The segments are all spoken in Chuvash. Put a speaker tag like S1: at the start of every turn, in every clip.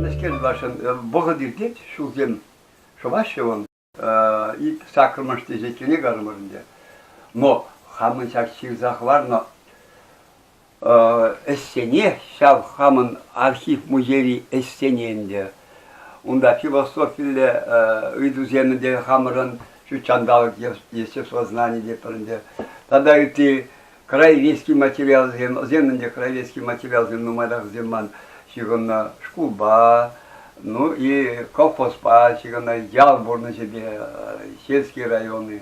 S1: Мӗскер тӑвасшӑн вӑхӑт иртет, ҫулсем шӑваҫҫӗ вӑл. Ит саккӑрмӗш теҫеткене карӑмӑр ӗнтӗ. Но хамӑн ҫак ҫырса хӑварнӑ Ӗҫсене ҫав хамӑн архив-музейри ӗҫсене ӗнтӗ. Унта философиллӗ ыйтусем ӗнтӗ хамӑрӑн ҫут ҫанталӑк естествознани тетпӗр ӗнтӗ. Тата ытти краеведческий материалсем, вӗсем ӗнтӗ краеведческий материалсем нумаях ман ҫыхӑннӑ. Шкулпа, ну и колхозпа ҫыхӑннӑ ял пурнӑҫӗпе, Сельский районӗ.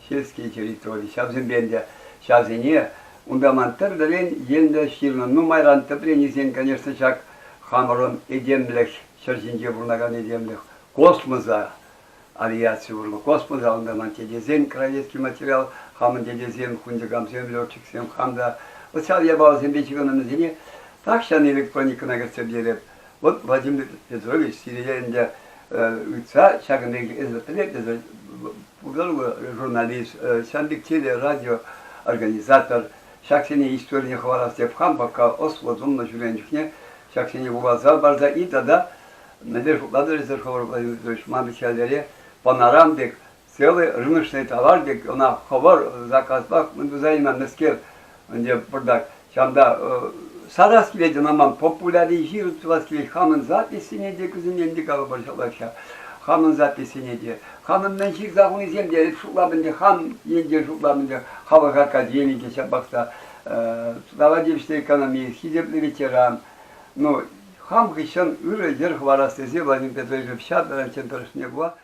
S1: сельский территори. Ҫавсемпе ӗнтӗ ҫавсене унта ман тӗрлӗрен енлӗ ҫырнӑ. Нумайран тӗпренисен, конечно, ҫак хамӑрӑн этемлӗх ҫӗр ҫинче пурӑнакан этемлӗх космоса авиаци урлӑ космоса унта ман тетесен кравецкий материал хамӑн тетесем хунчӑкамсем летчиксем хам та социал япаласемпе ҫыхӑннӑ вӗсене тахҫан электроникӑна кӗртсе пӗтереп Вот Владимир Петрович сире ӗнтӗ ыйтса ҫакӑн пекех пӗлетӗн, журналист, Ҫамрӑк теле радио организатор, ҫаксене историне хӑварас теп хам пока ӑслӑ тумлӑ ҫӳрен чухне ҫаксене вуласа парса и тата мӗнле шутлатӑр эсир, хӑвӑр Владимир Петрович, ман хӗллере пӑнаран пек целый рыночный товар пек, ӑна хӑвӑр заказпах мӗн туса илменнӗскер, ӗнтӗ пӑртак ҫамта сарас килет, ӑна ман популяри ҫырӑн тӑвас килет, хамӑн записьсене те кусене те калӑпӑр ҫалакҫа. Хамӑн записьсене те. Хамӑн мӗн ҫырса хунисем те шутлам ӗнтӗ, хам енчен шутлам ӗнтӗ, халӑх академикӗ ҫапахта, слова экономист, хисеплӗ ветеран. Ну, хам хыҫҫӑн ырӑ йӗр хӑварас тесе Владимир Петрович Ивчатовӑн тӑрӑшне пула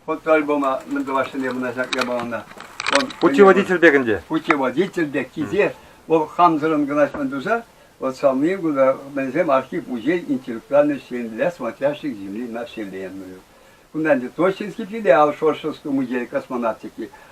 S1: Фотоальбома мӗн тӑвассине мына ҫак япалана. Путеводитель
S2: пек ӗнтӗ. Путеводитель пек
S1: килсе, вӑл хамсӑрӑн кӑначман туса, вот самые куда мӗнсем архив музей интеллектуальной земли, смотрящих земли населения. Кунта ӗнтӗ Тощинский филиал, Шоршевский музей космонавтики,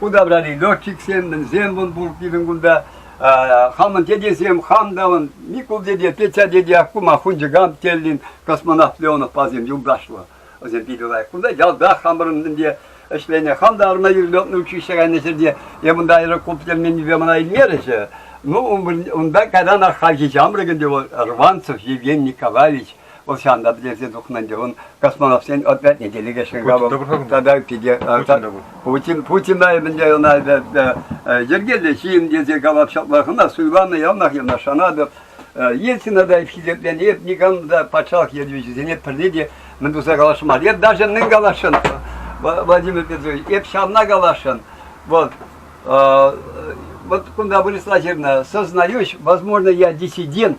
S1: Удобряли летчиксем, мӗнсем вӑн пур пирӗн кунта. Хамӑн дедесем, хам та вӑн, Микул деде, Петя деде Аккума хунчӑкам теллин космонавт Леонов пасем юлташлӑ. Вӗсем питӗ лайӑх. Кунта ялта хамӑрӑн ӗнтӗ ӗҫленӗ. Хам та арма юрлетнӗ училище кайнӑ ҫӗрте. Эп унта аэроклуб тӗлменнипе мана илмерӗҫӗ. Ну, унта кайран хальхи ҫамрӑк ӗнтӗ вӑл Рванцев Евгений Николаевич. Вӑл ҫанта пӗтерсе тухнӑ ӗнтӗ. Ун космонавтсен отрядне те лекесшӗн кабыл. Тата питӗ... Путин, Путина ӗмӗнче ӑна йӗркеллӗ ҫын тесе калап ҫаплах. Ӑна суйланӑ, яланах ӑна шанатӑп. Ельцина та хисепленӗ, эп никам та патшалӑх ертӳҫисене пӗрне те мӗн туса каласшӑн мар. Эп даже мӗн каласшӑн, Владимир Петрович, эп ҫавна каласшӑн. Вот, вот кунта выросла жирна, сознаешь, возможно, я диссидент,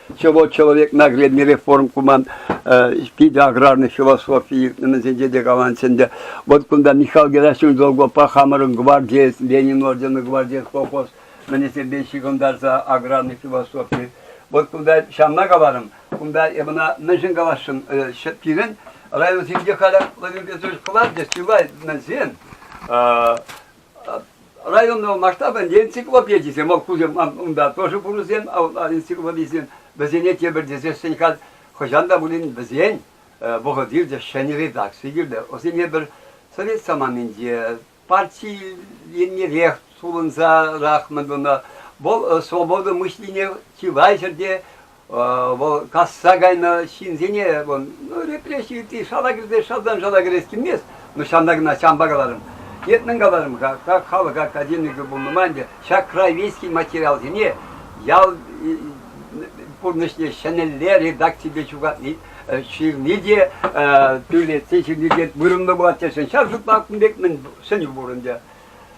S1: Ҫӑвӑ человек наглядный реформ куман питӗ аграрный философи иртнӗмӗсенче те каланчӗ ӗнтӗ. Вот кунта Михаил Герасимович Долгопа хамӑрӑн гвардиец, Ленин орденный гвардиец колхоз мӗнесемпе ҫыхӑнтарса аграрный философи. Вот кунта ҫавна каларӑм, кунта мана мӗншӗн каласшӑн, пирӗн районсенче халӗ Владимир Петрович кӑларчӗ, сывай мӗнсем, районна масштабӑн энциклопедисем, вӑл кусем унта тоже пурӑсем, энциклопедисем, вӗсене тепӗр тесессӗн халь хӑҫан та пулин вӗсен вӑхӑт иртӗ, ҫӗнӗ редакци килтӗ. Вӗсене пӗр совет саманинче парти еннерех сулӑнсарах мӑн тунӑ. Вӑл свобода мышлине чылай ҫӗрте Вӑл касса кайнӑ ҫынсене, вӑл, ну, репресси ытти шала кӗрсе шалтан шала кӗрес килмест, но ҫавна кӑна ҫампа каларӑм. Нет, мӗн каларӑм, как халӑх академикӗ пулнӑ май ӗнтӗ ҫак краеведский материалсене ял пурнӑҫне ҫӗнӗлле редакципе ҫырни те, тӳлетсе ҫырни те вырӑнлӑ пулать тесен ҫав шутла кун пек мӗн сӗнӳ пур ӗнтӗ.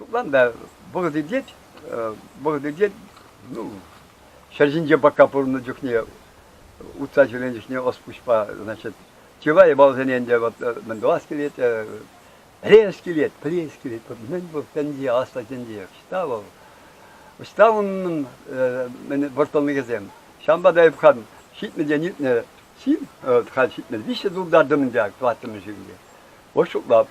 S1: Шутланӑ вӑхӑт иртет, вӑхӑт иртет. Ну, ҫӗр ҫинче пӑкка пурӑннӑ чухне, утса ҫӳренӗ чухне ӑс-пуҫпа, значит, чылай балсене ӗнтӗ вот мӗн тӑвас килет, пӗлес килет, пӗлес килет. Вот мӗн вӑл тӗнче, аслӑ тӗнче. Ӑҫта вӑл? Ӑҫта унӑн мӗн вӑрттӑнлӑхӗсем? Ҫавӑнпа та эп хан ҫитнӗ те ҫитнӗ, ҫил, хан ҫитнӗ, виҫҫӗ тултартӑмӑн ҫак тӑваттӑмӗш ҫӳлте. Вӑт шутлап.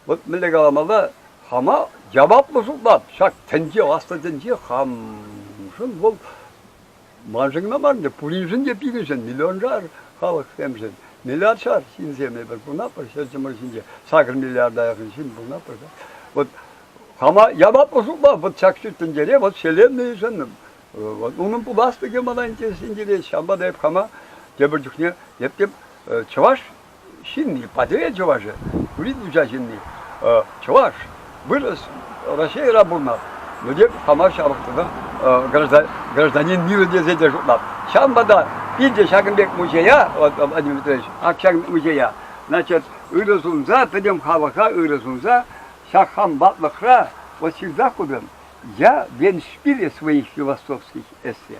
S1: Вӑт мӗнле каламалла, хама яваплӑ шутлап, ҫак тӗнче, аслӑ тӗнче хамшӑн вӑл маншӑн кӑна марне, пуриншӗн те пирӗншӗн, миллионшар халӑхсемшӗн, миллиардшар ҫынсем эпир пулнаппӑр ҫӗр чӑмӑр ҫинче, сакӑр миллиарда якын ҫын пулнаппӑр та. Вот хама яваплӑ шутлав вот ҫак ҫут тӗнчере вот Вселеннӑйшӑн, вот унӑн пуласлӑхӗ мана интереслӗ ҫампа та эп хама тепӗр чухне эп тем чӑваш ҫынни, Патӑрьел чӑвашӗ, юрист уча ҫынни, чӑваш, вырӑс, Раҫҫейра пулнӑ, но тем хама ҫавӑх тунӑ гражданин миру тесе те шутлап. Ҫавӑнпа та питӗ ҫакӑн пек музея, Владимир Владимирович, ак музея, значит, ырӑ сунса, пӗтӗм халӑха ырӑ сунса, ҫак хам ватлӑхра вот всегда худым, я венспиле своих философских эссе.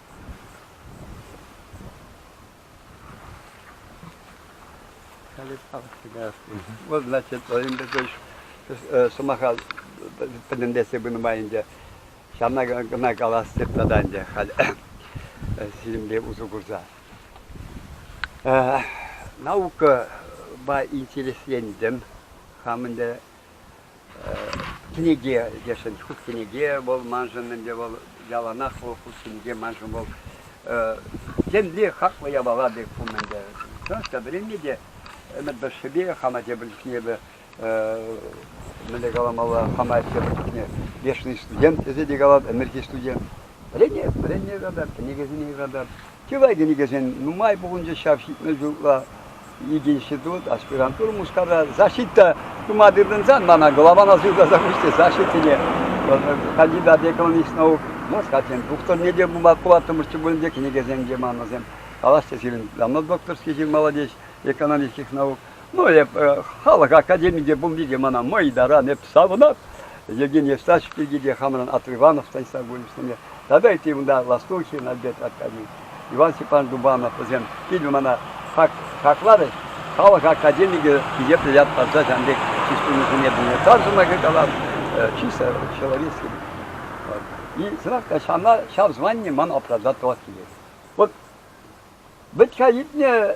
S1: Вот, значит, во время такой сӑмаха пӗтӗмлетсе пынӑ май ӗнтӗ ҫавна кӑна калас тата ӗнтӗ халь сирӗнпе усӑ курса. Наука интереслентӗм хам ӗнтӗ кӗнеке тесшӗн. Ҫук кӗнеке вӑл маншӑн ӗнтӗ вӑл яланах вӑл хут кӗнеке маншӑн вӑл темле хаклӑ япала пек пум ӗнтӗ. Чӑнах та вӗренме те ӗмӗт тӑршшӗпе хама тепӗр чухне эпӗ мӗнле каламалла хама тепӗр чухне вечный студент тесе те калат, ӗмӗрхи студент. Вӗренеп, вӗренме юратап, кӗнекесене юратап. Чылай кӗнекесен нумай пухӑнчӗ ҫав ҫитмӗл ҫулла ик институт, аспирантура мускавра. Защита тума тытӑнсан мана главана суйласа хучӗ защитине. Вот, кандидат экономических наук, может, хотим, докторне те пулаттӑмӑрччӗ пулин те кӗнекесем те манӑсем. Калаҫҫӗ сирӗн, давно докторский ҫын молодец, экономических наук. Ну, эп халӑх академийӗнче те пулни те мана мӑй таран эп савӑнат. Евгений Евстафьевич пирки те хамран Атриванов Станислав Гурьевичсене тата ытти унта Ластухин Альберт Аркадьевич, Иван Степанович Дубанов вӗсем питӗ мана хак, хакларӗҫ. Халӑх академийӗ хисеплӗ ят парса ҫавӑн пек чыс-чунусене пире тар сӑмахӗ калам, чисто человеческий. Вот. И сӑмахка ҫавна ҫав звание ман оправдать тӑвас килет. Вот вӗт-ха иртнӗ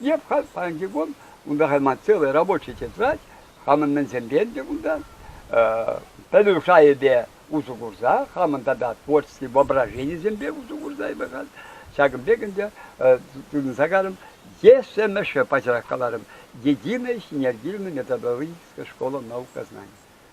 S1: Я в Казанке wohne und da hat man целые рабочие тетрадь, хамӑн мӗнсемпен те унта, пӗлӳшайӗпе усӑ курса, хамӑн тата творческий воображенисемпе усӑ курса эпӗ ҫакӑн пек ӗнтӗ тытӑнса карӑм. Ешемӗше пачах каларӑм, Единая синергильно-методологическая школа наук Казани.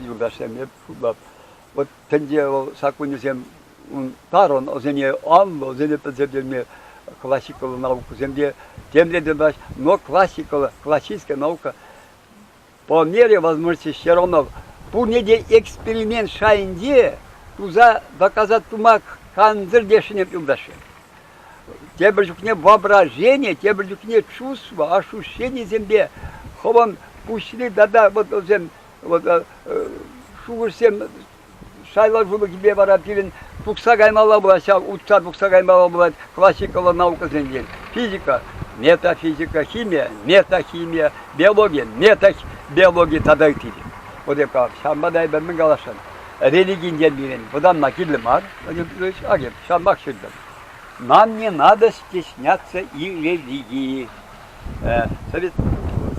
S1: юлташсемпе пулать. Вот тӗнче вӑл саккунӗсем ун тарӑн, вӗсене анлӑ, вӗсене пӗлтертерме классикаллӑ наукӑсем те темле тӑваҫ, но классикаллӑ, классическая наука по мере возможности все равно пурне те эксперимент шайӗнче туса доказать тума кансӗр те ӗшенеп юлташсем. тепӗр чухне воображение, тепӗр чухне чувство, ощущенисемпе хӑвӑн пуҫри тата вот вӗсем вот шухӑшсем сайлаулӑхӗпе вара пирӗн тухса каймалла пулать ҫав утса тухса каймалла пулать классикаллӑ наукӑсенчен физика метафизика химия метахимия биология метабиология тата ытти вот эп ҫавӑнпа та эпир мӗн каласшӑн религинчен пирӗн вӑтанма кирлӗ мар Владимир Петрович Агин ҫавах ҫыртӑм. Нам не надо стесняться религии. Совет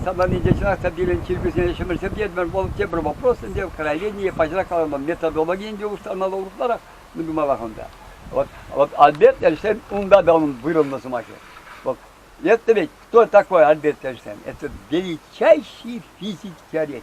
S1: собранинче чӑнах та пирӗн чиркӳсене ҫӗмӗрҫӗртетмӗр. Вӑл тепӗр вопрос ӗнтӗ. Кровение поҫрак каланӑ методологийӗн те устаннӑ урӑхларах мӗн тумаллах унта. Вот, вот Альберт Эйнштейн унта да onun вырӑнлӑ сӑмахı. Вот, это ведь кто такой Альберт Эйнштейн? Это величайший физик-теоретик.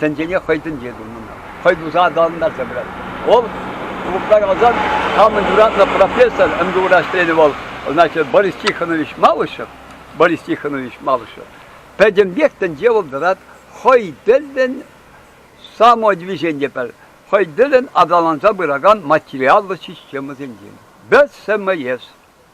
S1: тӗнчене хӑй тӗнче тунӑ ӑна. Хӑй туса аталантарса пырать. Вӑл Клубра каласан хамӑн юратнӑ профессор МГУра ӗҫленӗ вӑл, значит, Борис Тихонович Малышев, Борис Тихонович Малышев. Пӗтӗмпех тӗнче вӑл тӑрать хӑй тӗллӗн самодвижение пӗр, хӑй тӗллӗн аталанса пыракан материаллӑ системӑсенчен. Без СМС.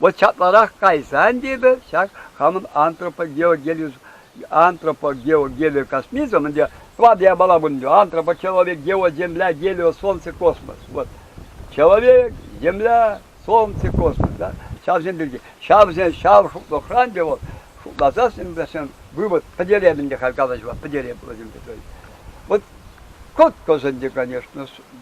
S1: Вӑл чапларах кайсан тетӗр ҫак хамӑн антропогеогелио космизм, ӗнтӗ твад япала пулнӑ, антропочеловек, геоземля, гелио, солнце, космос. Вот. Человек, земля, солнце, космос. Да? Ҫавсем пирки. Ҫавсен ҫав шутлӑхран те вӑл шутласассӑн вӗсен вывод пӗтерем ӗнтӗ халь калаҫӑва пӗтерем пуласем. Вот кӑткӑс ӗнтӗ, конечно,